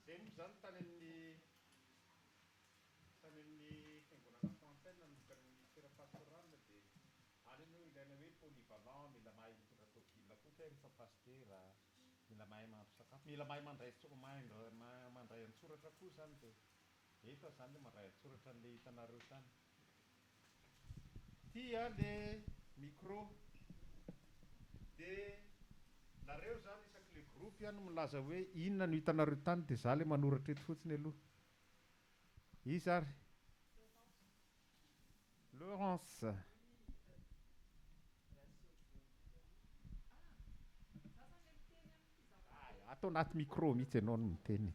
Izay momba izany tany amin'ny tany amin'ny fiangonana Fountain nanomboka ny ministera pastoral dia any anie no ilaina hoe polyvalent, mila mahay mitondra tôbile koa kay rehefa pasitera, mila mahay mahandro sakafo, mila mahay mandray mahay mandray an-tsoratra koa izany dia efa izany ilay mandray an-tsoratra an'ilay hitanareo tany. Ty a le micro de nareo zany isaky le groupe a no milaza hoe inona no hitanareo tany de za le manoratra eto fotsiny aloha. Iza ary? Laurence. Ato anaty micro mihitsy enao no miteny e.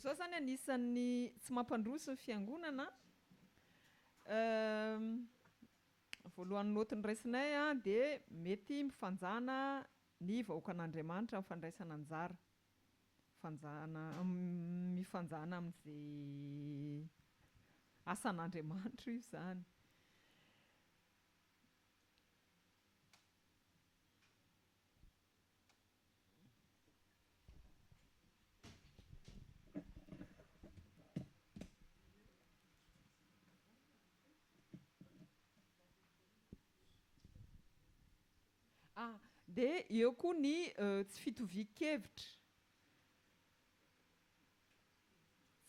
Zao zany anisan'ny tsy mampandroso ny fiangonana voalohany note niraisinay dia mety mifanjana Ny vahoakan'Andriamanitra mifandraisana anjara, fanjana, mifanjana amin'izay asan'Andriamanitra io izany. Ah, dia eo koa ny tsy fitovian-kevitra.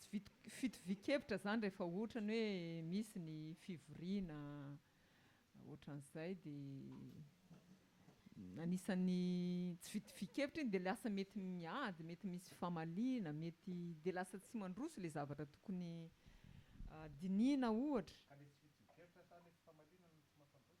Tsy fitovian-kevitra izany rehefa ohatra ny hoe misy ny fivoriana ohatran'izay dia anisan'ny tsy fitovian-kevitra iny dia lasa mety miady, mety misy famaliana, mety dia lasa tsy mandroso ilay zavatra tokony dinihina ohatra. Ka ilay tsy fitovian-kevitra sa ilay tsy famaliana no tsy mampandroso?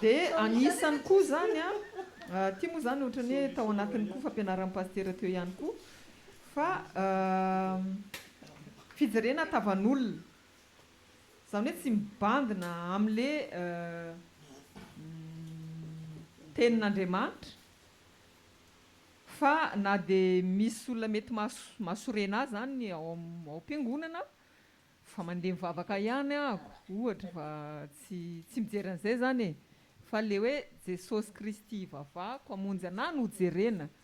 Dia anisany koa izany an, ity moa izany ohatran'ny hoe tao anatin'ny koa fampianaran'ny pasitera teo ihany koa fa fijerena tavan'olona Izany hoe tsy mibandina amin'ilay Tenin'Andriamanitra fa na dia misy olona mety mahasorena ahy izany ao am-piangonana fa mandeha mivavaka ihany aho ohatra fa tsy tsy mijery an'izay izany e! fa ilay hoe Jesosy Kristy ivavahako hamonjy anah no jerena.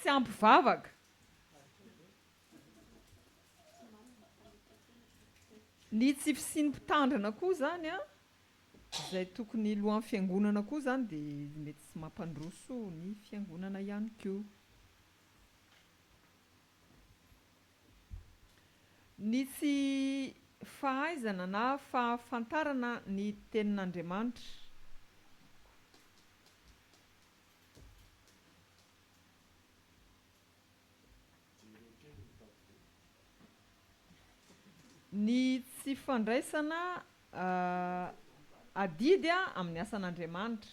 Tsy ampy vavaka. Ny tsy fisian'ny mpitandrina koa izany an, izay tokony hilohan'ny fiangonana koa izany dia mety tsy mampandroso ny fiangonana ihany koa. Ny tsy fahaizana na fahafantarana ny Tenin'Andriamanitra. Ny tsy fandraisana adidy amin'ny asan'Andriamanitra.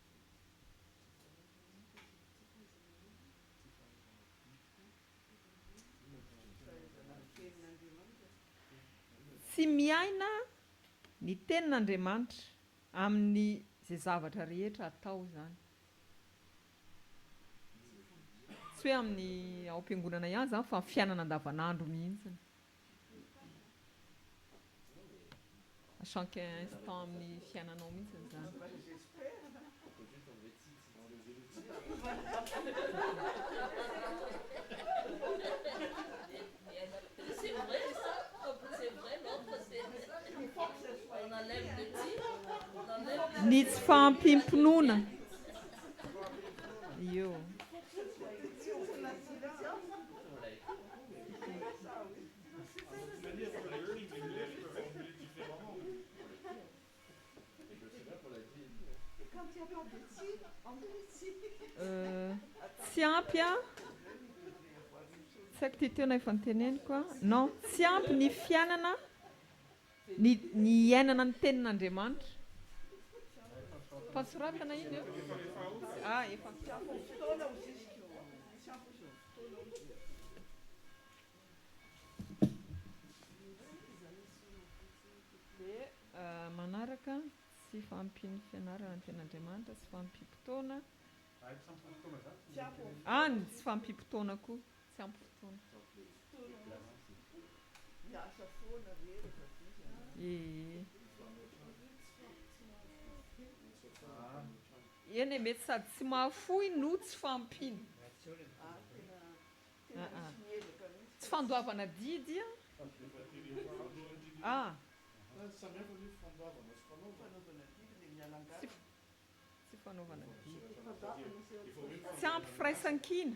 Tsy miaina ny tenin'Andriamanitra amin'ny izay zavatra rehetra atao izany. Tsy hoe amin'ny ao am-piangonana ihany izany fa fiainana andavanandro mihitsy. Chaque instant amin'ny fiainanao mihitsy izany. Ny tsy fahampiam-pinoana. Io. Tsy ampy an! Tsy haiko ty teo na efa noteneniko an! Non, tsy ampy ny fiainana. Ny ny iainana ny tenin'Andriamanitra. Efa soratana iny an. A efa Dia manaraka tsy fahampian'ny fianarana ny tenin'Andriamanitra tsy fahampiam-potoana. Any tsy fahampiam-potoana koa. Tsy ampy fotoana. Eny e, mety sady tsy mahafoy no tsy fahampiana. Tsy fandoavana didy an. Tsy fanaovana didy. Tsy ampy firaisankina.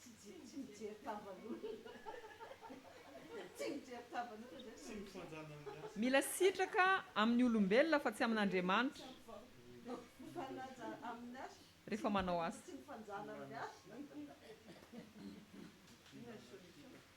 Tsy tsy tsy mijery tavan'olona. Tsy mijery tavan'olona izay no mahitsy. Mila sitraka amin'ny olombelona fa tsy amin'Andriamanitra rehefa manao asa.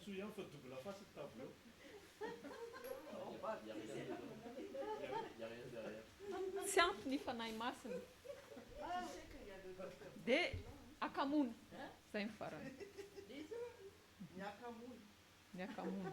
Soa ihany fa double face ny tableau. Tsy ampy ny Fanahy Masina dia akamoana. Zay no farany. Ny akamoana. Ny akamoana.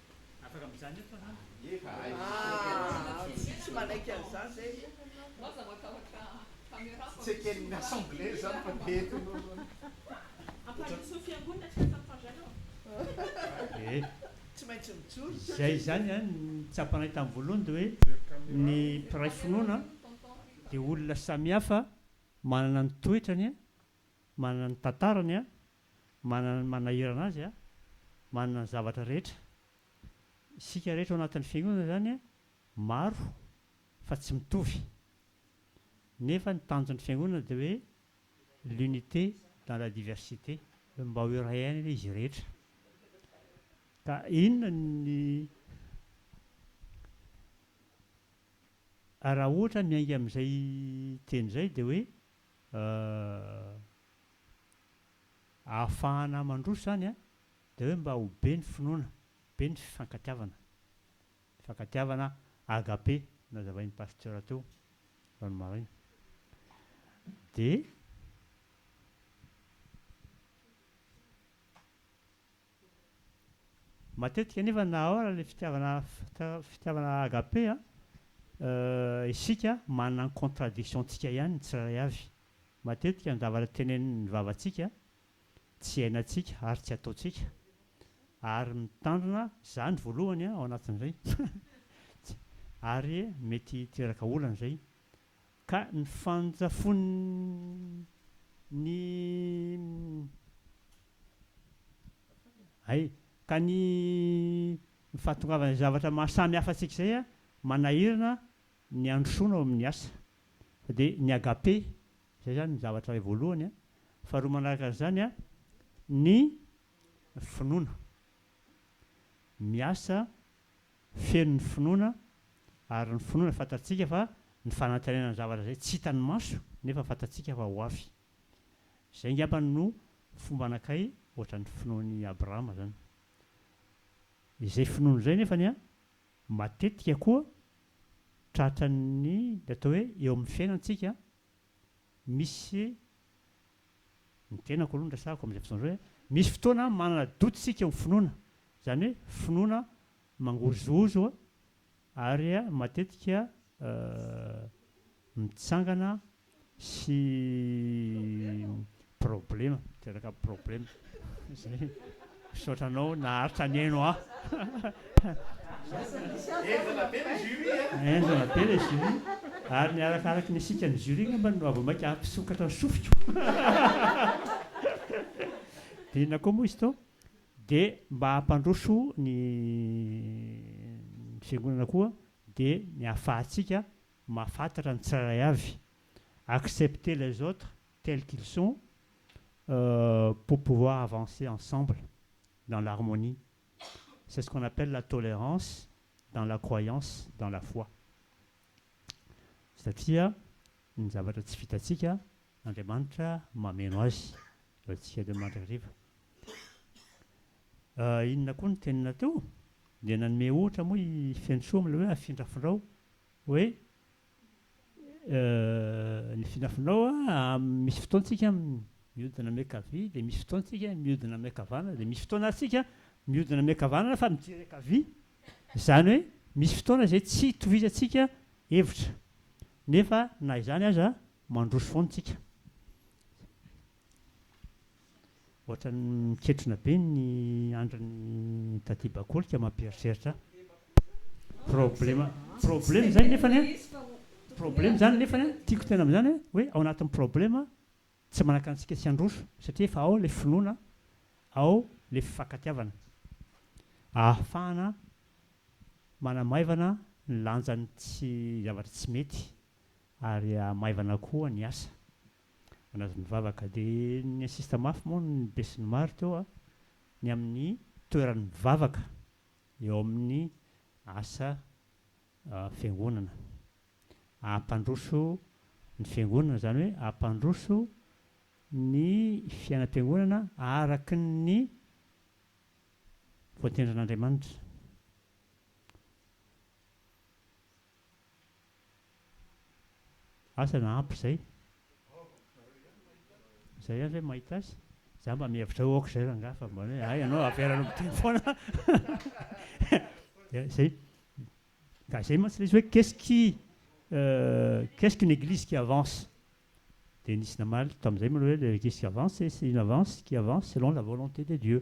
Afaka mijanona eto fa zany. Izay izany an ny tsapanay tamin'ny voalohany dia hoe ny mpiray finoana dia olona samihafa manana ny toetrany an Manana ny tantarany, manana ny manahirana azy, manana ny zavatra rehetra. Isika rehetra ao anatin'ny fiangonana izany maro fa tsy mitovy. Nefa ny tanjon'ny fiangonana dia hoe l'unité dans la diversité, hoe mba ho iray aina anie izy rehetra. Ka inona ny Raha ohatra miainga amin'izay teny izay dia hoe ahafahana mandroso izany an, dia hoe mba ho be ny finoana, be ny fifankatiavana, fifankatiavana agape nazavain'ny pasteur teo androany maraina, dia. Matetika anefa na ao ary le fitiavana fitiavana agape an, isika manana ny contradiction ntsika ihany ny tsirairay avy. Matetika ny zavatra tenenin'ny vavantsika tsy iainantsika ary tsy ataontsika. Ary mitandrina za ny voalohany an ao anatin'izay, ary mety hiteraka olana izay. Ka ny fandrafon' ny ay, ka ny ny fahatongavan' izay zavatra maha samy hafa antsika izay a, manahirana ny handrosoana ao amin' ny asa. Fa dia ny agape, izay izany ny zavatra iray voalohany a. Faharoa manaraka an' izany a, ny finoana. Miasa feno ny finoana, ary ny finoana fantatsika fa ny fanantenana ny zavatra izay tsy hitan'ny maso nefa fantatsika fa ho avy. Izay angamba no fomba anakay ohatran'ny finoan'i Abrahama izany. Izay finoany izay nefany an, matetika koa tratran'ny atao hoe eo amin'ny fiainantsika misy Ny tenako aloha no resahako amin'izay fotoana izay hoe misy fotoana manana doute isika eo amin'ny finoana, izany hoe finoana mangozohozo ary matetika mitsangana sy problema, miteraka problema. Misaotra anao naharitra nihaino ahy. Henjana be le jury e. Henjana be le jury ary ny arakaraky ny sikan'ny jury ngambany no vao maika hampisokatra ny sofiko. Dia inona koa moa izy teo? Dia mba hampandroso ny fiangonana koa dia ny ahafahantsika mahafantatra ny tsirairay avy, accepter les autres tels qu'ils sont pour pouvoir avancer ensemble dans l'harmonie c'est ce qu'on appelle la tolérance dans la croyance dans la foi satria ny zavatra tsy vitantsika Andriamanitra mameno azy ho antsika eto Mandrakariva inona koa ny tenina teo dia nanome ohatra moa i Fenosoa amin'ilay hoe afindrafindrao hoe ny finafinao amin'ny misy fotoantsika miodina miankavia dia misy fotoantsika miodina miankavanana dia misy fotoana ary tsika miodina miankavanana fa mijery ankavia izany hoe misy fotoana izay tsy itovizantsika hevitra nefa na izany aza mandroso foana tsika Ohatran'ny miketrona be ny andrin'i Daty Bakoly ka mampieritreritra ahy. Problema, problema izany nefany an, problema izany nefany an, tiako tena amin'izany an, hoe ao anatin'ny problema tsy manakana antsika tsy handroso satria efa ao ilay finoana, ao ilay fifankatiavana. Ahafahana manamaivana ny lanjan'ny tsy, zavatra tsy mety ary hahamaivana koa ny asa. Anazy mivavaka de ny insiste mafy moa ny besinimaro teo a ny amin'ny toeran'ny mivavaka eo amin'ny asa fiangonana ampandroso ny fiangonana zany hoe ampandroso ny fiainam-piangonana araky ny voatendrin'Andriamanitra. Asa na ampy izay? Izay ihany ve mahita azy? Za mba mihevitra ho aok'izay rangaha fa mba hoe hay ianao avelanao miteny foana. Dia izay. Ka izay mantsy ilay izy hoe qu'est-ce qui qu'est-ce qu'une église qui avance? Dia nisy namaly tamin'izay moa ilay hoe l'église qui avance c'est une avance qui avance selon la volonté de Dieu.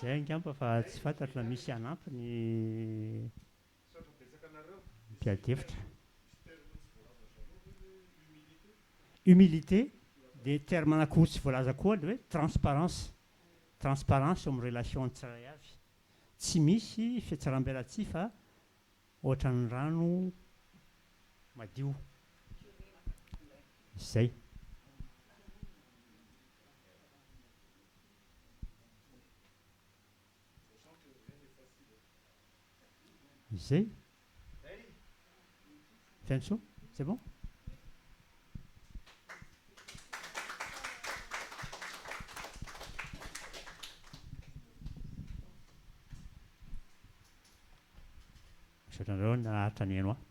Zay angamba fa tsy fantatro raha misy hanampy ny mpiady hevitra. Humilité dia terme anankiroa tsy voalaza koa ny hoe transparence. Transparence eo amin'ny relation ny tsirairay avy. Tsy misy fihetsaram-belatsihy fa Ohatran'ny rano madio. Izay. Izay. Fiantsoa? C'est bon? Misaotra anareo naharitra nihaino ahy.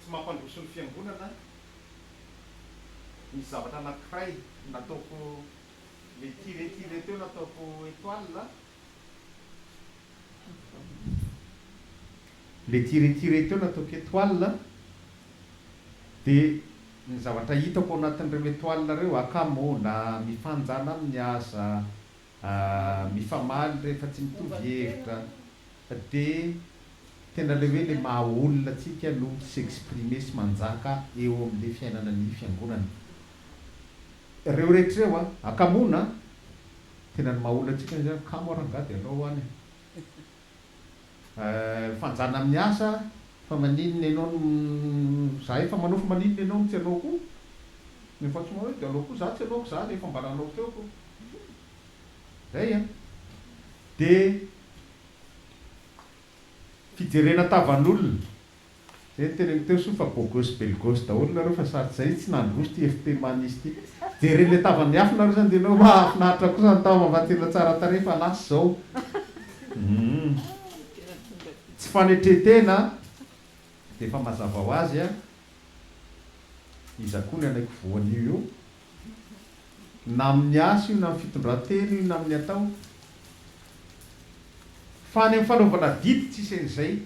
Tsy mampandroso ny fiangonana ny zavatra anankiray nataoko le tire tire teo nataoko etoile a. Le tire tire teo nataoko etoile a de ny zavatra hitako ao anatin'ireo etoile ireo akama ô na mifanjana aminy aza Ahh mifamaly rehefa tsy mitovy hevitra de tena le hoe le maha olona tsika no tsy s'exprimer sy manjaka eo amle fiainana ny fiangonana reo rehetra reo a! Akamoana a! Tena ny maha olona tsika zany kamo a rangah de alao any a! Fanjana amin'ny asa fa maninona ianao no za efa manao fa maninona ianao no tsy hanao koa? Ny efa tsy manao io de hanao koa za tsy hanaoko zany efa mba nanao teo ko. Zay an! De fijerena tavan'olona. Zay niteneniko teo soa fa bogos belgos daholo nareo fa sady zay tsy nandroso ty FP Manisy ty. Jereo le tava miafina aloha zany de enao mahafinaritra kosa ny tava fa tena tsara tarehy fa lasa izao humm tsy fanetretena a! Defa mazava ho azy a! Iza koa ny anay ko voan'io eo? Na amin'ny asa io na amin'ny fitondran-tena io na amin'ny atao fa any amin'ny fanaovana didy tsisy an'izay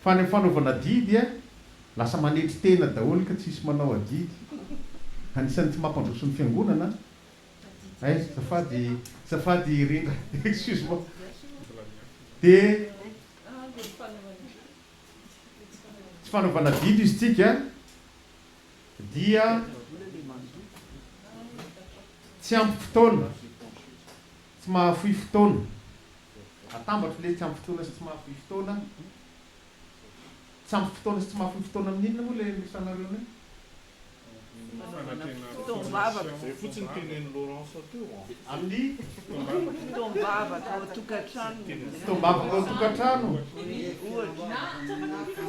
Fa ny fanaovana adidy a, lasa manetry tena daholo ka tsisy manao adidy. Anisan'ny tsy mampandroso ny fiangonana eh, zafady zafady Rindra excuse moi de tsy fanaovana adidy izy tsika dia tsy ampy fotoana. Tsy mahafoy fotoana. Atambatro ilay tsy ampy fotoana sy tsy mahafoy fotoana. Tsy ampy fotoana sy tsy mahafoy fotoana amin'ny inona moa ilay niresahanareo anay? Fotoam-bavaka. Izay fotsiny tenenin'i Laurence teo an. Amin'ny? Fotoam-bavaka ao an-tokantrano. Fotoam-bavaka ao an-tokantrano. Ohatra.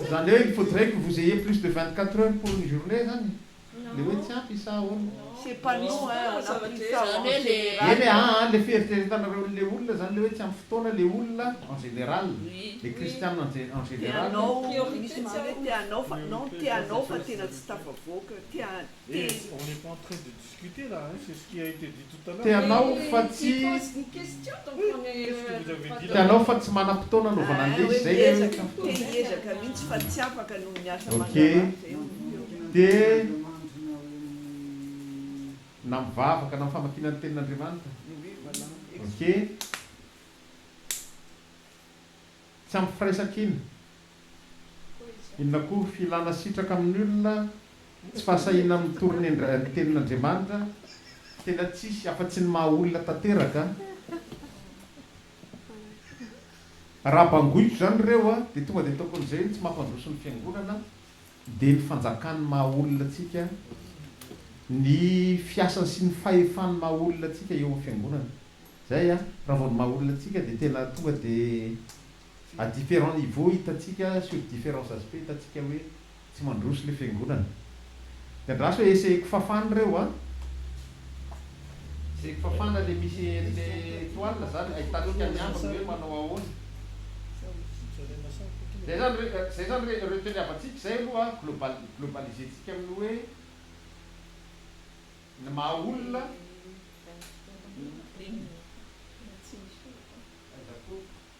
Izany hoe il faudrait que vous ayez plus de vingt-quatre heures pour une journée izany? le hoe tsy ampy isa ahoana? C'est pas nous hein, on a pris ça en général. Eny aa aa le fieritreretanareo le olona zany le hoe tsy ampy fotoana le olona en général, le kristiana en général. Tianao, misy manao hoe te hanao fa non te hanao fa tena tsy tafavoaka, te te. Te hanao fa tsy Te hanao fa tsy manam-potoana anaovana an'le izay le hoe Te hiezaka mihitsy fa tsy afaka noho ny asa aman-draharaha Te na mivavaka na amin'ny famakiana ny tenin'Andriamanitra Ok. Tsy ampy firaisaka iny. Inona koa? Filana sitraka amin'ny olona, tsy fahasahiana mitory ny ny tenin'Andriamanitra, tena tsisy afa tsy ny maha olona tanteraka. Raha bangoiko izany ireo dia tonga dia ataoko an'izay hoe ny tsy mampandroso ny fiangonana Dia ny fanjakan'ny maha olona antsika, ny fiasany sy ny fahefan'ny maha olona antsika eo amin'ny fiangonana. Izay an, raha vao ny maha olona antsika dia tena tonga dia à différents niveaux hitantsika sur différents aspects hitantsika hoe tsy mandroso ilay fiangonana. Dia andraso hoe essayeko fafana ireo an! Zay fafana le misy le toile zany ahitantsika ny ambiny hoe manao ahoana. Zay zany re zay zany re reo teniavantsika zay aloha global globaliser tsika amin'ny hoe ny maha olona.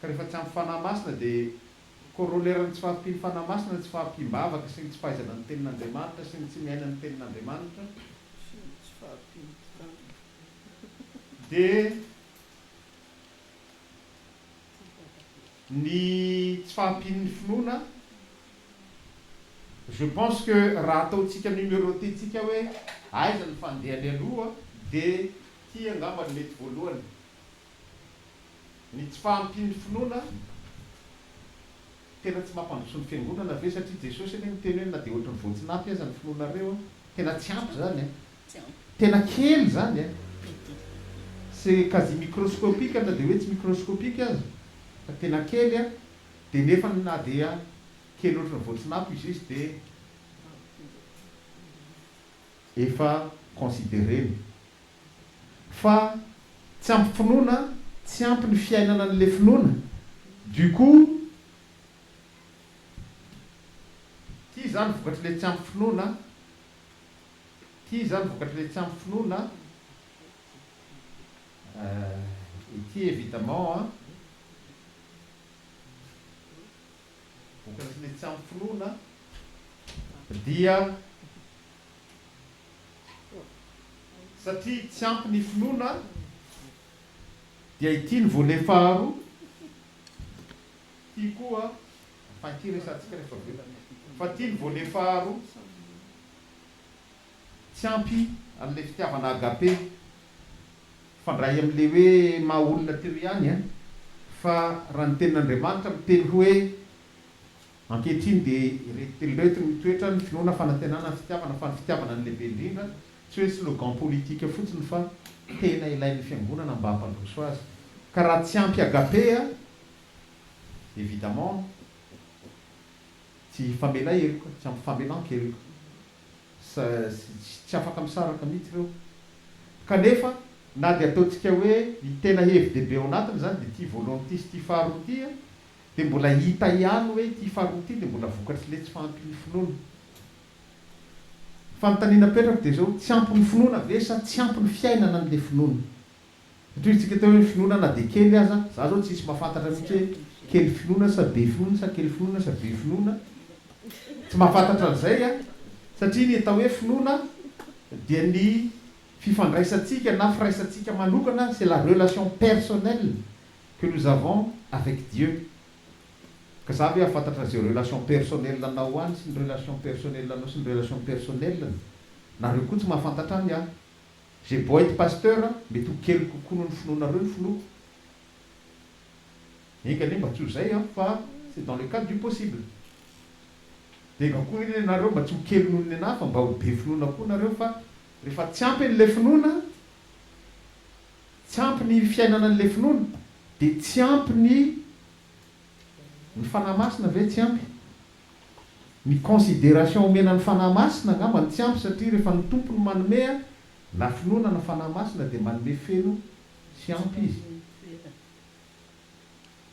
Ka rehefa tsy ampy Fanahy Masina dia corollaire ny tsy fahampian'ny Fanahy Masina ny tsy fahampiam-bavaka sy ny tsy fahaizana ny Tenin'Andriamanitra sy ny tsy miaina ny Tenin'Andriamanitra, sy ny tsy fahampiam-pitanana. Dia ny tsy fahampian'ny finoana, je pense que raha ataontsika numeroter-tsika hoe aiza ny fandehany aloha dia ity angamba no mety voalohany. Ny tsy fahampian'ny finoana tena tsy mampandroso ny fiangonana ve satria Jesosy anie miteny hoe na dia ohatry ny voatsinapy aza ny finoanareo a. Tena tsy ampy zany a. Tena kely zany a. C'est quasi microscopique na dia hoe tsy microscopique aza fa tena kely a. Dia nefa na dia kely ohatry ny voatsinapy izy izy dia efa considerena. fa tsy ampy finoana tsy ampy ny fiainana anle finoana du coup ty zany vokatrle tsy ampy finoana ty zany vokatrle tsy ampy finoana eh ity evidemment an vokatrle tsy ampy finoana dia Satria tsy ampy ny finoana dia ity ny volet faharoa ity koa fa ity resahantsika rehefa avy eo fa ity ny volet faharoa tsy ampy an'ilay fitiavana agape mifandray amin'ilay hoe maha olona teo ihany an fa raha ny tenin'Andriamanitra miteny hoe Ankehitriny dia ireto telo ireto no mitoetra, ny finoana, fanantenana, ny fitiavana, fa ny fitiavana no lehibe indrindra, tsy hoe slogan politika fotsiny fa tena ilain'ny fiangonana mba hampandroso azy. Ka raha tsy ampy agape a! Evidemment tsy hifamela heloka, tsy hampifamelan-keloka. Sa tsy afaka misaraka mihitsy ireo. Kanefa na dia ataontsika hoe ny tena hevi-dehibe ao anatiny izany dia ity voalohany ity sy ity faharoa ity a! Dia mbola hita ihany hoe ity faharoa ity dia mbola vokatr'ilay tsy fahampian'ny finoana. Ny fanontaniana apetrako dia izao, tsy ampy ny finoana ve sa tsy ampy ny fiainana an'ilay finoana? Satria hoy isika teo hoe ny finoana na dia kely aza, izaho izao tsisy mahafantatra mihitsy hoe kely finoana sa be finoana sa kely finoana sa be finoana, tsy mahafantatra an'izay an! satria ny atao hoe finoana dia ny fifandraisantsika na firaisantsika manokana, c'est la relation personnelle que nous avons avec Dieu ka za ve afantatra ze relation personnel anao ho any sy ny relation personnel anao sy ny relation personnel ny nareo koa tsy mahafantatra any ah j'ai beau être pasteur mety ho kely kokoa noho ny finoanareo ny finoako enga anie mba tsy ho zay an fa c'est dans le cadre du possible de enga koa anie nareo mba tsy ho kely noho ny nenahy fa mba ho be finoana koa nareo fa refa tsy ampy anle finoana Tsy ampy ny fiainana an'ilay finoana dia tsy ampy ny ny Fanahy Masina ve tsy ampy? Ny consideration omena ny Fanahy Masina angamba no tsy ampy satria rehefa ny Tompo no manome na finoana na Fanahy Masina dia manome feno sy ampy Izy.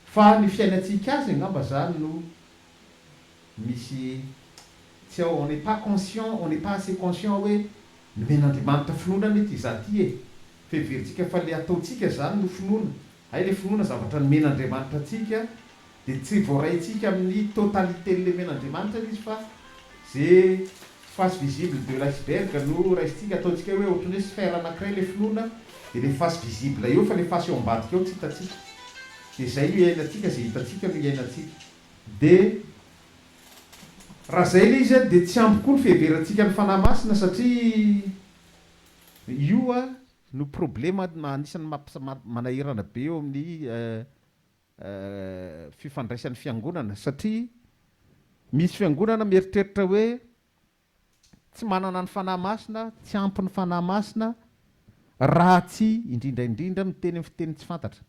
Fa ny fiainantsika Azy angamba izany no Misy tsy ao on n'est pas conscient, on n'est pas assez conscient hoe nomen'Andriamanitra finoana anie ity za ty e! Fa heverintsika fa le ataontsika zany no finoana, hay le finoana zavatra nomen'Andriamanitra antsika de tsy voaraintsika amin'ny totalité lemen'Andriamanitra le izy fa ze face visible de l'iceberg no raisintsika ataontsika hoe ohatran'ny hoe sphère anakiray le finoana de le face visible eo fa le face eo ambadika eo tsy hitantsika de zay no iainantsika ze hitantsika no iainantsika. Dia raha izay ilay izy dia tsy ampy koa ny fiheverantsika ny Fanahy Masina satria io no problema anisan'ny manahirana be eo amin'ny fifandraisan'ny fiangonana satria misy fiangonana mieritreritra hoe tsy manana ny Fanahy Masina, tsy ampy ny Fanahy Masina raha tsy indrindra indrindra miteny amin'ny fiteny tsy fantatra.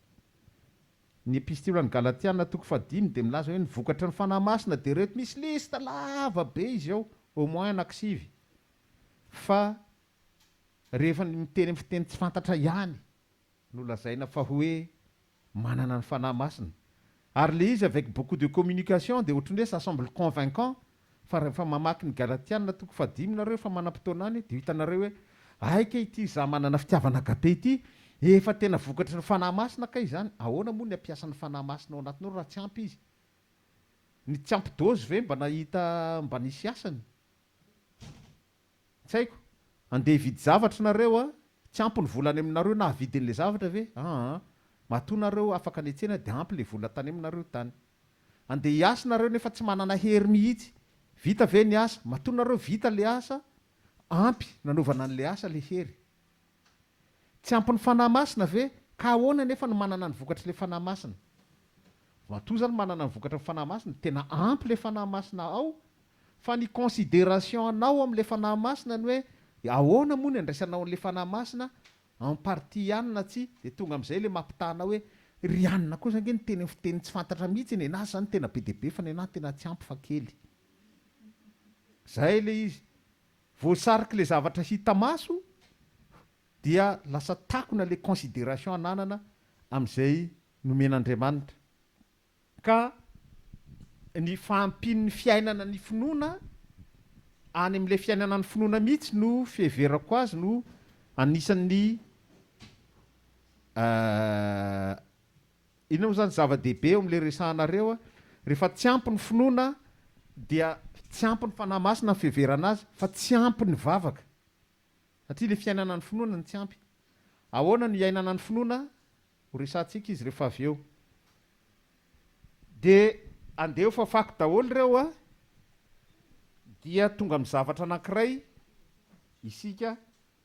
Ny Epistily ho an'ny Galatiana, toko fahadimy, dia milaza hoe ny vokatry ny Fanahy Masina dia ireto, misy liste lava be izy ao, au moins anankisivy, fa rehefa ny miteny amin'ny fiteny tsy fantatra ihany no lazaina fa hoe manana ny Fanahy Masina. Ary ilay izy avec beaucoup de communication dia ohatran'ny hoe ça semble convaincant Fa rehefa mamaky ny Galatiana toko fahadimy nareo efa manam-potoana any dia ho hitanareo hoe aika ity izaho manana fitiavana agape ity. Efa tena vokatry ny Fanahy Masina kay izany. Ahoana moa ny hampiasa ny Fanahy Masina ao anatinao raha tsy ampy izy? Ny tsy ampy dozy ve mba nahita mba nisy asany? Tsy haiko, andeha hividy zavatra nareo a, tsy ampy ny vola any aminareo nahavidy an'ilay zavatra ve? aa, matoa nareo afaka nihetsena dia ampy ilay vola tany aminareo tany. Andeha hiasa nareo nefa tsy manana hery mihitsy, vita ve ny asa? matoa nareo vita ilay asa, ampy nanaovana an'ilay asa ilay hery. Tsy ampy ny Fanahy Masina ve? Ka ahoana anefa no manana ny vokatr'ilay Fanahy Masina? Matoa zany manana ny vokatry ny Fanahy Masina, tena ampy ilay Fanahy Masina ao, fa ny consideration anao amin'ilay Fanahy Masina ny hoe ahoana moa ny andraisanao an'ilay Fanahy Masina, en partie ihany na tsia, dia tonga amin'izay ilay mampitaha anao hoe, ry anona kosa ange niteny amin'ny fiteny tsy fantatra mihitsy, nenaha izany tena be dia be fa nenaha tena tsy ampy fa kely. Izay ilay izy. Voasariky le zavatra hita maso dia lasa takona le consideration ananana amizay nomen'Andriamanitra ka ny fahampian'ny fiainana ny finoana any amle fiainana ny finoana mihitsy no fiheverako azy no anisan'ny Inona moa izany zava-dehibe eo amin'ilay resahanareo? Rehefa tsy ampy ny finoana dia tsy ampy ny Fanahy Masina ny fiheverana azy fa tsy ampy ny vavaka satria ilay fiainana ny finoana no tsy ampy. Ahoana no iainana ny finoana? Horesahantsika izy rehefa avy eo. Dia andeha ho fafako daholo ireo a! Dia tonga amin'ny zavatra anankiray isika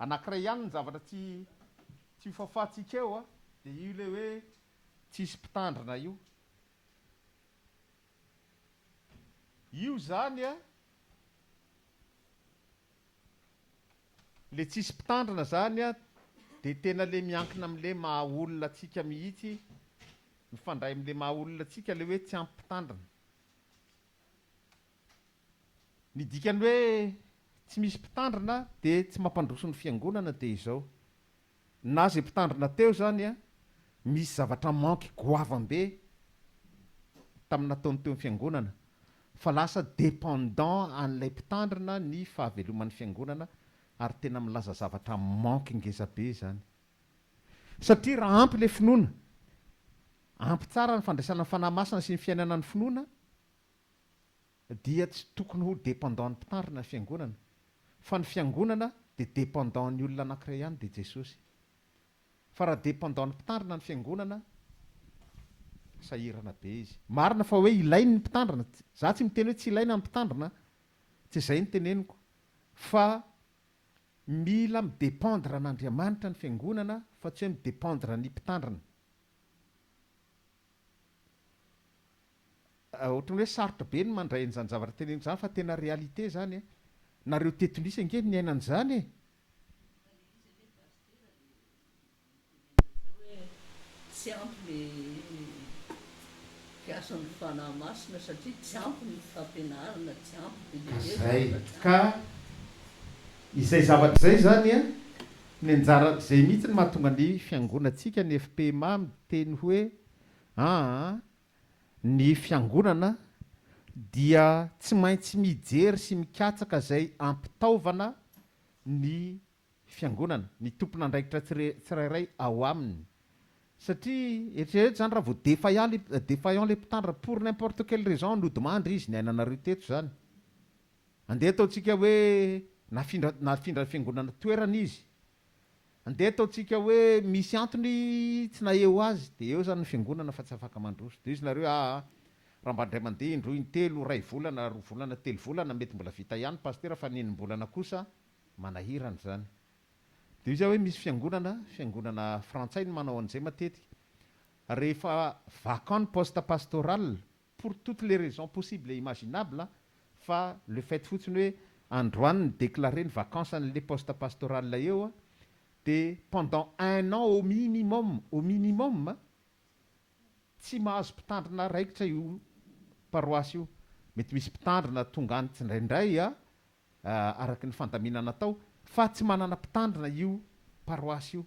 Anankiray ihany ny zavatra tsy tsy ho fafantsika eo a, dia io ilay hoe tsisy mpitandrina io. Io izany a, ilay tsisy mpitandrina izany a, dia tena ilay miankina amin'ilay maha olona antsika mihitsy, mifandray amin'ilay maha olona antsika ilay hoe tsy ampy mpitandrina. Ny dikan'ny hoe tsy misy mpitandrina dia tsy mampandroso ny fiangonana dia izao, na izay mpitandrina teo izany misy zavatra manque goavam-be tamin'ny nataony teo amin'ny fiangonana fa lasa dependant an'ilay mpitandrina ny fahaveloman'ny fiangonana ary tena milaza zavatra manque ngeza be izany satria raha ampy ilay finoana, ampy tsara ny fandraisana ny Fanahy Masina sy ny fiainana ny finoana, dia tsy tokony ho dependant ny mpitandrina ny fiangonana fa ny fiangonana dia dependant ny olona anankiray ihany dia Jesosy fa raha dependant ny mpitandrina ny fiangonana sahirana be izy. Marina fa hoe ilainy ny mpitandrina, za tsy miteny hoe tsy ilaina ny mpitandrina, tsy izay ny teneniko fa mila mi-dependre an'Andriamanitra ny fiangonana fa tsy hoe mi-dependre ny mpitandrina. Ohatran'ny hoe sarotra be ny mandray an'izany zavatra teneniko izany fa tena réalité izany e! Nareo teto Nice ange niaina an'izany e! Tsy ampy le mpiasan'ny fanahy masina satria tsy ampy ny fampianarana, tsy ampy be dia be ny zavatra. Ka izay zavatra izay izany an, ny anjara, izay mihitsy no mahatonga ny fiangonantsika ny FPMA miteny hoe aa Ny Fiangonana dia tsy maintsy mijery sy mikatsaka izay ampitaovana ny Fiangonana, ny tompon'andraikitra tsirairay ao aminy. Satria eritrereto izany raha vao défaillant défaillant ilay mpitandrina, pour n'importe quelle raison nodimandry izy, ny ainanareo teto izany. Andeha ataontsika hoe nafindra nafindran'ny Fiangonana toerana izy, Andeha ataontsika hoe misy antony tsy naheho azy dia eo izany ny fiangonana fa tsy afaka mandroso. Dia hoy izy nareo aa raha mba indray mandeha indroa intelo, iray volana, roa volana, telo volana mety mbola vita ihany pasitera fa ny enim-bolana kosa manahirana izany. Dia hoy izy aho hoe misy fiangonana, fiangonana frantsay no manao an'izay matetika, rehefa vacant ny poste pastoral pour toutes les raisons possibles et imaginables fa le fait fotsiny hoe androany ni declarer ny vacances anle poste pastoral eo de pendant un an au minimum au minimum tsy mahazo mpitandrina raikitra io paroisse io mety misy mpitandrina tonga any tsindraindray araka ny fandaminana atao fa tsy manana mpitandrina io paroasy io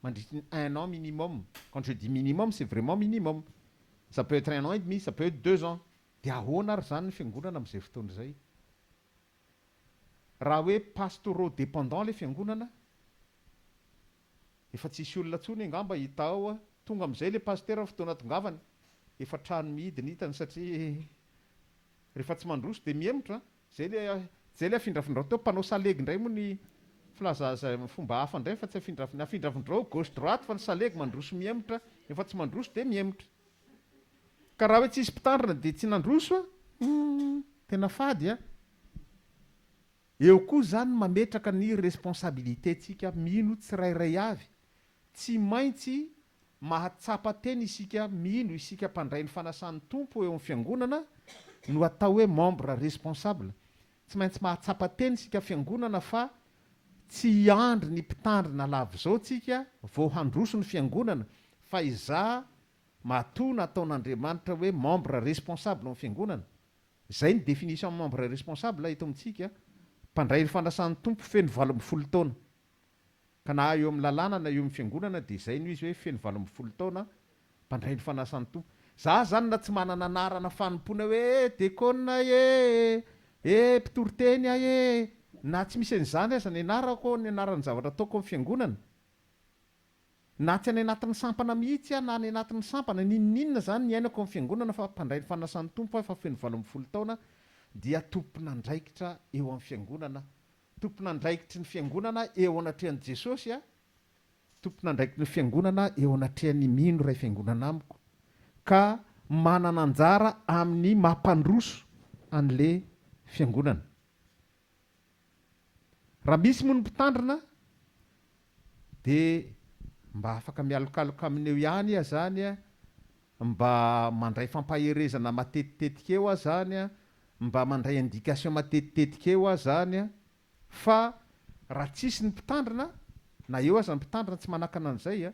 mandritry ny un an minimum, quand je dis minimum c'est vraiment minimum, ça peut etre un an et demi, ça peut etre deux ans, dia ahoana ary izany ny fiangonana amin'izay fotoana izay? Raha hoe pastoraux dépendants ilay fiangonana, efa tsy hisy olona intsony angamba hita ao, tonga amin'izay ilay pasitera ny fotoana atongavany, efa trano mihidy ny hitany satria rehefa tsy mandroso dia mihemotra an! Zay le zay le afindrafindrao teo mpanao salegy indray moa ny filaza zay fomba hafa indray fa tsy afindrafin ny afindrafindrao gauche droite fa ny salegy mandroso mihemotra efa tsy mandroso dia mihemotra ka raha hoe tsy hisy mpitandrina dia tsy nandroso a humm tena fady a eo koa zany mametraka ny responsabilité tsika mino tsirairay avy tsy maintsy Mahatsapa tena isika mino isika mpandray ny fanasan'ny Tompo eo amin'ny Fiangonana no atao hoe membre responsable, tsy maintsy mahatsapa tena isika Fiangonana fa tsy hiandry ny mpitandrina lava izao tsika vao handroso ny Fiangonana fa izaho matoa nataon'Andriamanitra hoe membre responsable amin'ny Fiangonana, izay ny definition membre responsable eto amintsika, mpandray ny fanasan'ny Tompo feno valo ambin'ny folo taona. Ka na eo amin'ny lalàna na eo amin'ny fiangonana dia izay no izy hoe feno valo ambin'ny folo taona mpandray ny fanasan'ny Tompo. Za zany na tsy manana anarana fanompoana hoe dekôna e! e! mpitory teny aho e! na tsy misy an'izany aza ny anarako, ny anaran'ny zavatra ataoko amin'ny fiangonana, na tsy any anatin'ny sampana mihitsy aho na any anatin'ny sampana, n'inon'inona izany niainako amin'ny fiangonana fa mpandray ny fanasan'ny Tompo aho efa feno valo ambin'ny folo taona dia tompon'andraikitra eo amin'ny fiangonana Tompon'andraikitry ny Fiangonana eo anatrehan'i Jesosy aho, tompon'andraikitry ny Fiangonana eo anatrehan'ny mino iray Fiangonana amiko, ka manana anjara amin'ny maha-mpandroso an'le Fiangonana. Raha misy moa ny Mpitandrina, dia mba afaka mialokaloka aminy eo ihany iha izany a, mba mandray fampaherezana matetitetika eo aho izany a, mba mandray indication matetitetika eo aho izany a, fa raha tsisy ny mpitandrina, na eo aza ny mpitandrina tsy manakana an'izay a,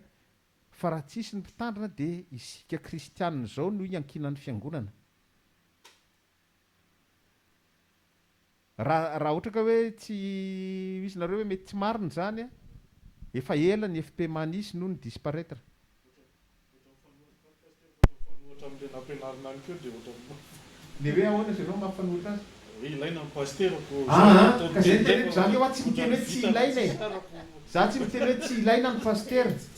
fa raha tsisy ny mpitandrina dia isika kristianina izao no iankinan'ny fiangonana. Raha raha ohatra ka hoe tsy misy nareo hoe mety tsy marina izany a! Efa ela ny FPMA nisy no ni disparaitre. Ohatran'ny mifanohitra amin'i Pasitera fa ny Pasitera efa nampianarina any koa dia ohatran'ny mafa. Ny hoe ahoana izy ireo no mampifanohitra azy? Hoe ilaina ny Pasitera ko. Aa ka izay no teneniko, izany hoe aho tsy miteny hoe tsy ilaina e! Za tsy miteny hoe tsy ilaina ny Pasitera.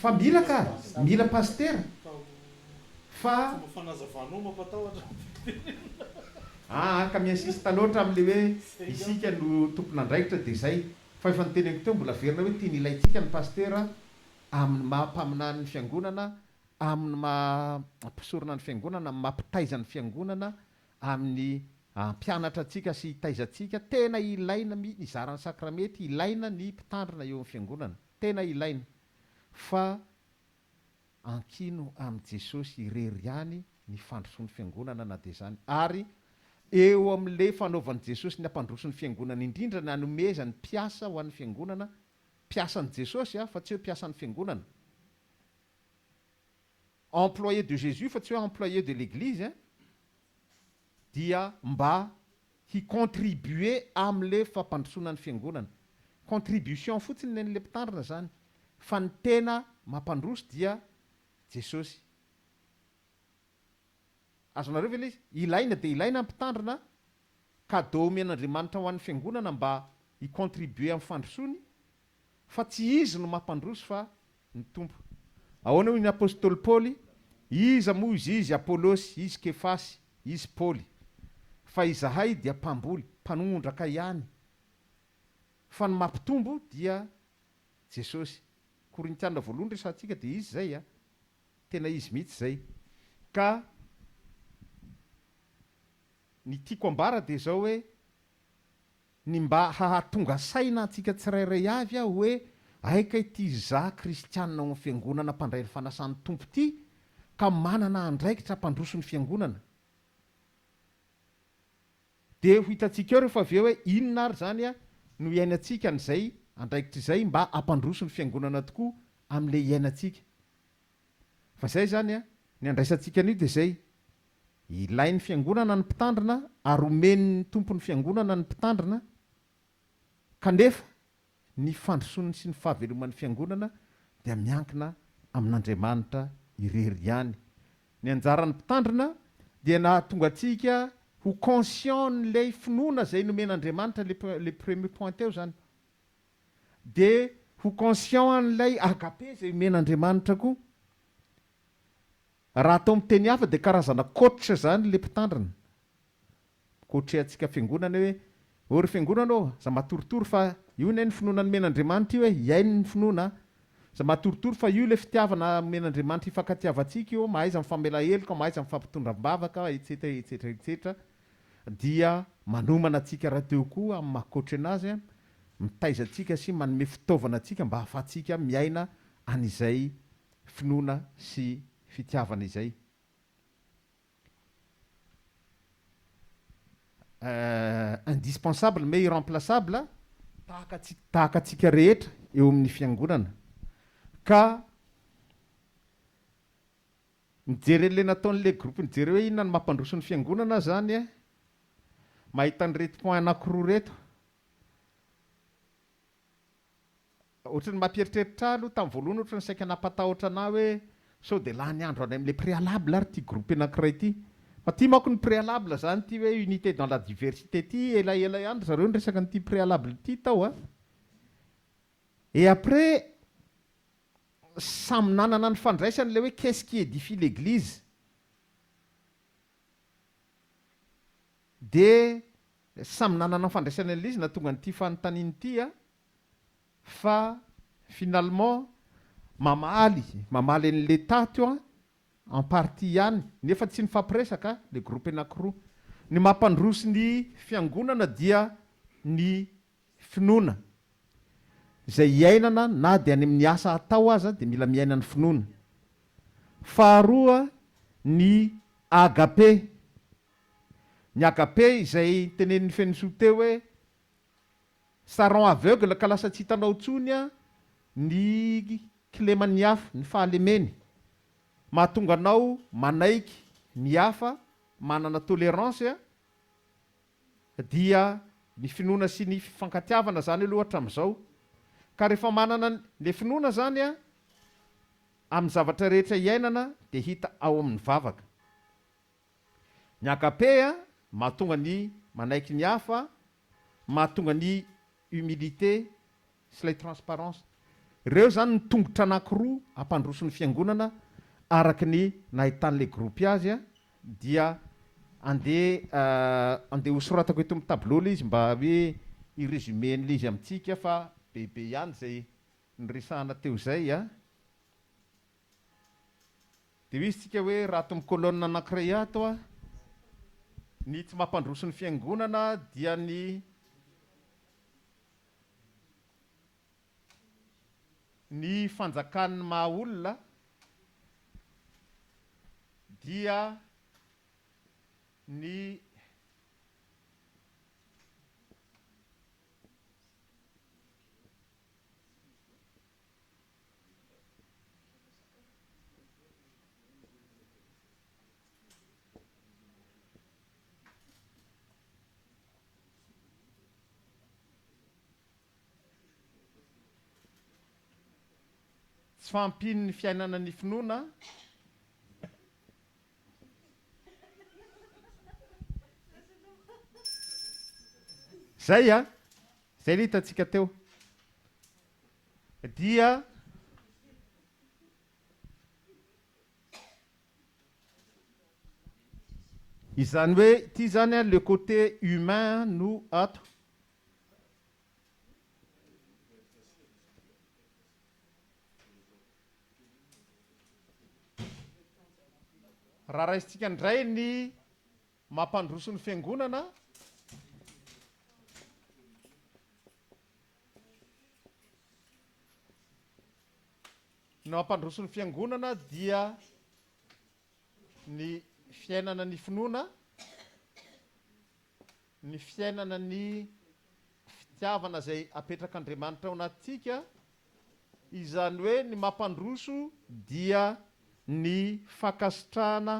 Fa mila ka! Mila Pasitera fa. Aa ka mi-insiste loatra amin'ilay hoe isika no tompon'andraikitra dia izay. Fa efa noteneniko teo mbola averina hoe tiany ilaintsika ny Pasitera amin'ny maha mpaminany ny Fiangonana, amin'ny maha mpisorona ny Fiangonana, amin'ny maha mpitaiza ny Fiangonana, amin'ny hampianatra antsika sy hitaiza antsika, tena ilaina mi izara ny sakramety, ilaina ny mpitandrina eo amin'ny fiangonana, tena ilaina, fa ankino amin'i Jesosy irery ihany ny fandrosoan'ny fiangonana na dia izany, ary eo amin'ilay fanaovan'i Jesosy ny hampandroso ny fiangonana indrindra ny hanomezany mpiasa ho an'ny fiangonana, mpiasan'i Jesosy fa tsy hoe mpiasan'ny fiangonana. employé de Jésus fa tsy hoe employé de l'église hein, dia mba hi contribuer amle fampandrosoana ny fiangonana, contribution fotsiny ny anle mpitandrina zany fa ny tena mampandroso dia Jesosy. Azonareo ve le izy? Ilaina dia ilaina ny mpitandrina, cadeau omen'Andriamanitra ho an'ny fiangonana mba hi contribuer amin'ny fandrosoany Fa tsy izy no mampandroso fa ny Tompo. Ahoana hoy ny apostoly Paoly, Iza moa izy, izy Apolosy, izy Kefasy, izy Paoly? Fa izahay dia mpamboly, mpanongondraka ihany, fa ny mampitombo dia Jesosy. Korintiana voalohany resahantsika dia izy izay a! Tena izy mihitsy izay. Ka ny tiako ambara dia izao hoe, ny mba hahatonga saina antsika tsirairay avy aho hoe aika ity izaho kristianina ao amin'ny Fiangonana mpandray ny fanasan'ny Tompo ity ka manana andraikitra hampandroso ny Fiangonana. Dia ho hitantsika eo rehefa avy eo hoe inona ary izany no hiainantsika an'izay andraikitra izay mba hampandroso ny Fiangonana tokoa amin'ilay iainantsika. Fa izay izany an, ny andraisantsika an'io dia izay, ilain'ny fiangonana ny mpitandrina ary omen'ny Tompon'ny fiangonana ny mpitandrina, kanefa ny fandrosoan'ny sy ny fahaveloman'ny fiangonana dia miankina amin'Andriamanitra irery ihany. Ny anjaran'ny mpitandrina dia ny hahatonga antsika ho conscient an'ilay finoana izay nomen'Andriamanitra, ilay premier point teo izany. dia ho conscient an'ilay agape izay omen'Andriamanitra koa. Raha atao amin'ny teny hafa dia karazana coach izany ilay mpitandrina. Mi-coacher antsika fiangonana hoe, ô ry fiangonana ô, aza matoritory fa io anie ny finoana nomen'Andriamanitra io e, hiaino ny finoana a. Aza matoritory fa io ilay fitiavana omen'Andriamanitra hifankatiavantsika io, mahaiza mifamela heloka, mahaiza mifampitondra am-bavaka, etsetra, etsetra, etsetra. Dia manomana antsika rahateo koa amin'ny maha-coach anazy. mitaiza antsika sy manome fitaovana antsika mba hahafahantsika miaina an'izay finoana sy fitiavana izay. Indispensable mais irremplaçable tahaka tahaka antsika rehetra eo amin'ny fiangonana. Ka mijery an'ilay nataon'ilay groupe nijery hoe inona no mampandroso ny fiangonana aho izany mahita an'ireto point anankiroa ireto Ohatry ny mampieritreritra ahy aloha tamin'ny voalohany ohatry ny saika nampatahotra anah hoe sao dia lany andro any amin'ilay préalable ary ity groupe anankiray ity. Fa tia manko ny préalable izany ity hoe unité dans la diversité ity, ela ela ihany ry zareo niresaka an'ity préalable ity tao a. Et après samy nanana ny fandraisany ilay hoe qu'est-ce qui édifie l'église? Dia samy nanana ny fandraisany an'ilay izy nahatonga an'ity fanontaniana ity aho fa finalement mamaly mamaly an'i l'etat to an en partie ihany nefa tsy nifampiresaka le groupe anakiroa. Ny maha mpandroso ny fiangonana dia ny finoana izay iainana na dia any amin'ny asa atao aza dia mila miaina ny finoana. Faharoa ny agape. Ny agape izay tenenin'i Fensoa teo hoe, ça rend aveugle ka lasa tsy hitanao intsony ny kileman'ny hafa, ny fahalemeny. Mahatonga anao manaiky ny hafa, manana tolérance, dia ny finoana sy ny fifankatiavana izany aloha hatramin'izao. Ka rehefa manana ilay finoana izany amin'ny zavatra rehetra iainana dia hita ao amin'ny vavaka. Ny agapeia mahatonga ny manaiky ny hafa, mahatonga ny humilité sy ilay transparence. Ireo izany no tongotra anankiroa hampandroso ny fiangonana araka ny nahitan'ilay gropy azy dia andeha andeha hosoratako eto amin'ny tableau ilay izy mba hoe hi-resumer an'ilay izy amintsika fa bebe ihany izay niresahana teo izay a. Dia misy tsika hoe raha ato amin'ny colonne anankiray ato a, ny tsy mampandroso ny fiangonana dia ny ny fanjakan'ny maha olona dia ny Tsy fahampian'ny fiainana ny finoana. Zay an! Zay le hitantsika teo. dia izany hoe ity zany a le côté humain no ato raha raisintsika indray ny mampandroso ny fiangonana Ny mampandroso ny fiangonana dia ny fiainana ny finoana, ny fiainana ny fitiavana izay apetrak'Andriamanitra ao anatintsika, izany hoe ny mampandroso dia ny fankasitrahana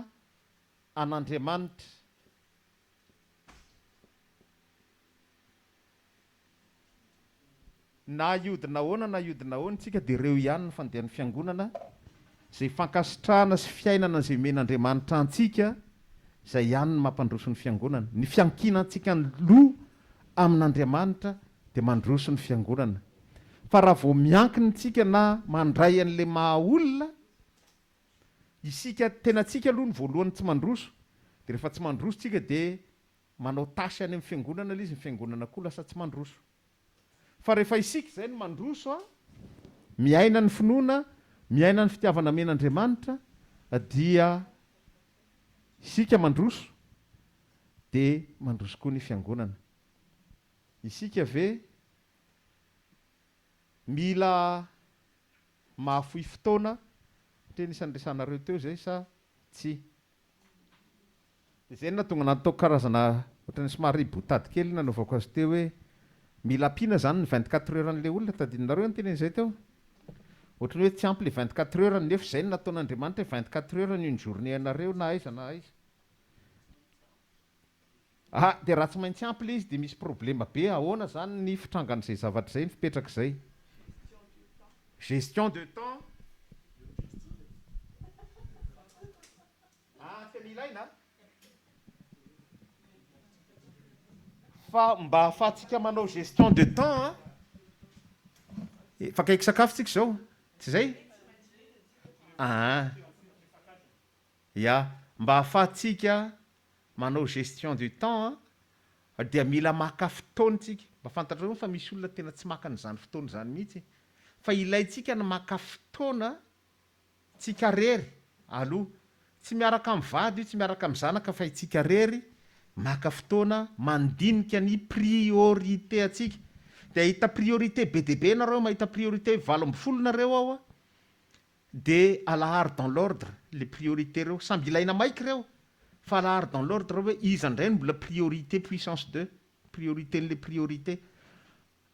an'Andriamanitra. Na hiodina ahoana na hiodina ahoana isika dia ireo ihany ny fandehan'ny Fiangonana, izay fankasitrahana sy fiainana izay omen'Andriamanitra antsika, izay ihany no mampandroso ny Fiangonana. Ny fiankinantsika ny loha amin'Andriamanitra dia mandroso ny Fiangonana. Fa raha vao miankina isika na mandray an'ilay maha olona isika, tenantsika aloha no voalohany tsy mandroso, dia rehefa tsy mandroso isika dia Manao tâche any amin'ny fiangonana ilay izy, ny fiangonana koa lasa tsy mandroso. Fa rehefa isika izay no mandroso a, miaina ny finoana, miaina ny fitiavana amen'Andriamanitra, dia isika mandroso, dia mandroso koa ny fiangonana. Isika ve mila mahafoy fotoana, satria anisan'ny resahanareo teo izay, sa tsia? Dia izay no nahatonga ahy nataoko karazana ohatran'ny somary boutade kely ny nanaovako azy teo hoe mila ampiana izany ny vingt quatre heures an'ilay olona, tadidinareo ny tenen'izy zay teo? Ohatran'ny hoe tsy ampy ilay vingt quatre heures nefa izay no nataon'Andriamanitra hoe vingt quatre heures ny une journée anareo na aiza na aiza. Ah de raha tsy maintsy ampy le izy de misy problema be ahoana zany ny fitrangan'izay zavatra izay ny fipetrak'izay gestion de temps ah tena ilaina fa mba ahafahantsika manao gestion de temps an efa akaiky sakafo tsika izao tsy izay ah. Ya, mba ahafahantsika manao gestion du temps an, dia mila maka fotoana tsika, mba fantatrao ve fa misy olona tena tsy maka an'izany fotoana izany mihitsy, fa ilaintsika ny maka fotoana tsika rery aloha, tsy miaraka amin'ny vady io, tsy miaraka amin'ny zanaka fa itsika rery maka fotoana mandinika ny priorité antsika, dia ahita priorité be dia be nareo, mahita priorité valo ambin'ny folo nareo ao an, De alaharo dans l'ordre le priorité reo, samby ilaina maiky reo fa alaharo dans l'ordre hoe iza ndray no mbola priorité puissance deux, priorité n'le priorité.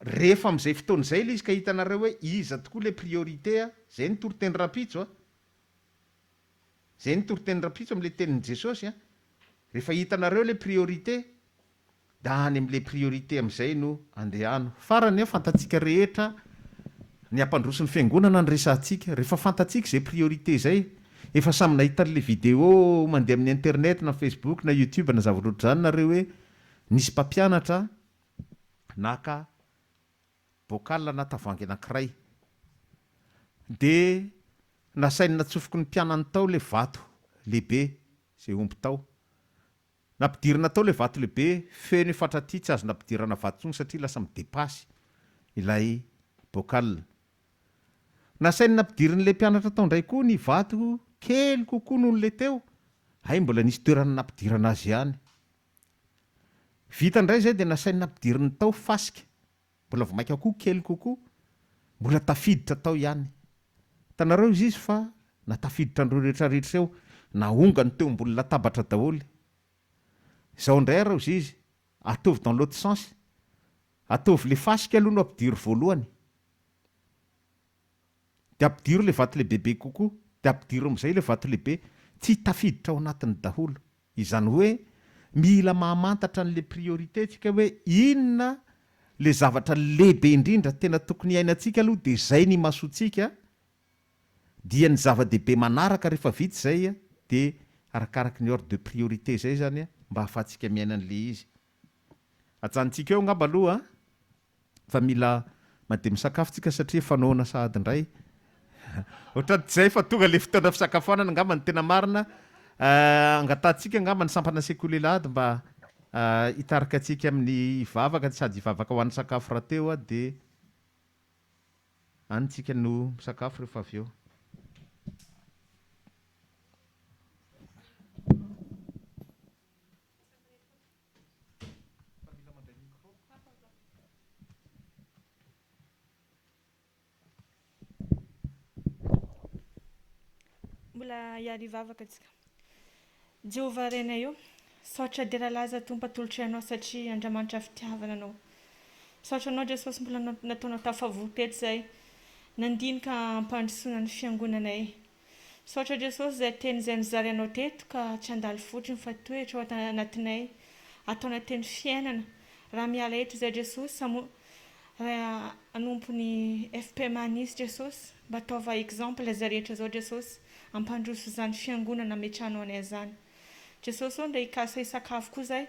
Rehefa amzay fotoana zay le izy ka hitanareo hoe iza tokoa le priorité a, zay no toriteny rapitso a, zay no toriteny rapitso amle tenin'i Jesosy a, rehefa hitanareo le priorité, Da any am le priorité amizay no andehano. Farany eo fantatsika rehetra ny hampandroso ny fiangonana ny resahantsika. Rehefa fantatsika izay priorité izay. Efa samy nahita anle vidéo mandeha amin'ny internet na facebook na youtube na zavatra ohatr'izany nareo hoe nisy mpampianatra naka bocal na tavoahangy anankiray. De nasainy natsofoky ny mpianany tao le vato lehibe izay omby tao. Nampidirina tao ilay vato lehibe feno io fatra ity, tsy azo nampidirana vato intsony satria lasa midepasy ilay bocal. Nasain'ny nampidirin'ilay mpianatra tao indray koa ny vato kely kokoa noho ilay teo, hay mbola nisy toerana nampidirana azy ihany. Vita indray izay dia nasain'ny nampidiriny tao fasika. Mbola vao mainka koa kely kokoa, mbola tafiditra tao ihany. Hitanareo izy izy fa na tafiditra an'ireo rehetra rehetra eo, na ongany teo ambony latabatra daholo. Izao indray ary izy izy, ataovy dans l'autre sens, ataovy ilay fasika aloha no ampidiro voalohany. Dia ampidiro ilay vato lehibebe kokoa, dia ampidiro amin'izay ilay vato lehibe. Tsy tafiditra ao anatiny daholo. Izany hoe mila mahamantatra an'le priorité tsika hoe inona le zavatra lehibe indrindra tena tokony hiainantsika aloha dia izay no imasoantsika dia ny zava-dehibe manaraka rehefa vita izay dia arakaraky ny ordre de priorité izay izany mba ahafahantsika miaina an'le izy. Ajanontsika eo angamba aloha fa mila mandeha misakafo tsika satria efa noana sahady indray. Ohatrany tsy zay fa tonga le fotoana fisakafoanana angamba ny tena marina. Angatahantsika angamba ny sampana sekoly Elahady mba hitarika antsika amin'ny hivavaka sady hivavaka ho an'ny sakafo rahateo dia any tsika no misakafo rehefa avy eo. Mbola hiaro hivavaka tsika. Jehovah Renay ô, misaotra dera laza Tompo atolotray anao satria Andramanitra fitiavana anao. Misaotra anao Jesosy mbola nataonao tafavory teto zay nandinika ampandrosoana ny fiangonanay. Misaotra Jesosy izay teny izay nizary anao teto ka tsy handalo fotsiny fa tohitra ao anatinay ataona teny fiainana raha miala eto izay Jesosy amo Ray anompo ny FPMA nisy Jesosy mba ataova exemple izay rehetra izao Jesosy ampandroso izany fiangonana ametrahanao anay izany Jesosy ô ndeha hikasa hisakafo koa izay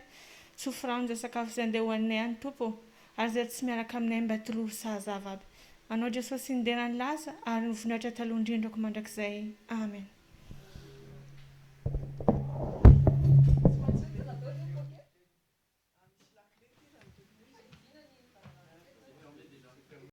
tsy ho firano izay sakafo izay ndeha hohaninay any Tompo ô Aza tsy miaraka aminay mba tororo sahaza vavy. Anao Jesosy ny dera ny laza ary ny voninahitra taloha indrindrako mandrakizay. Amen.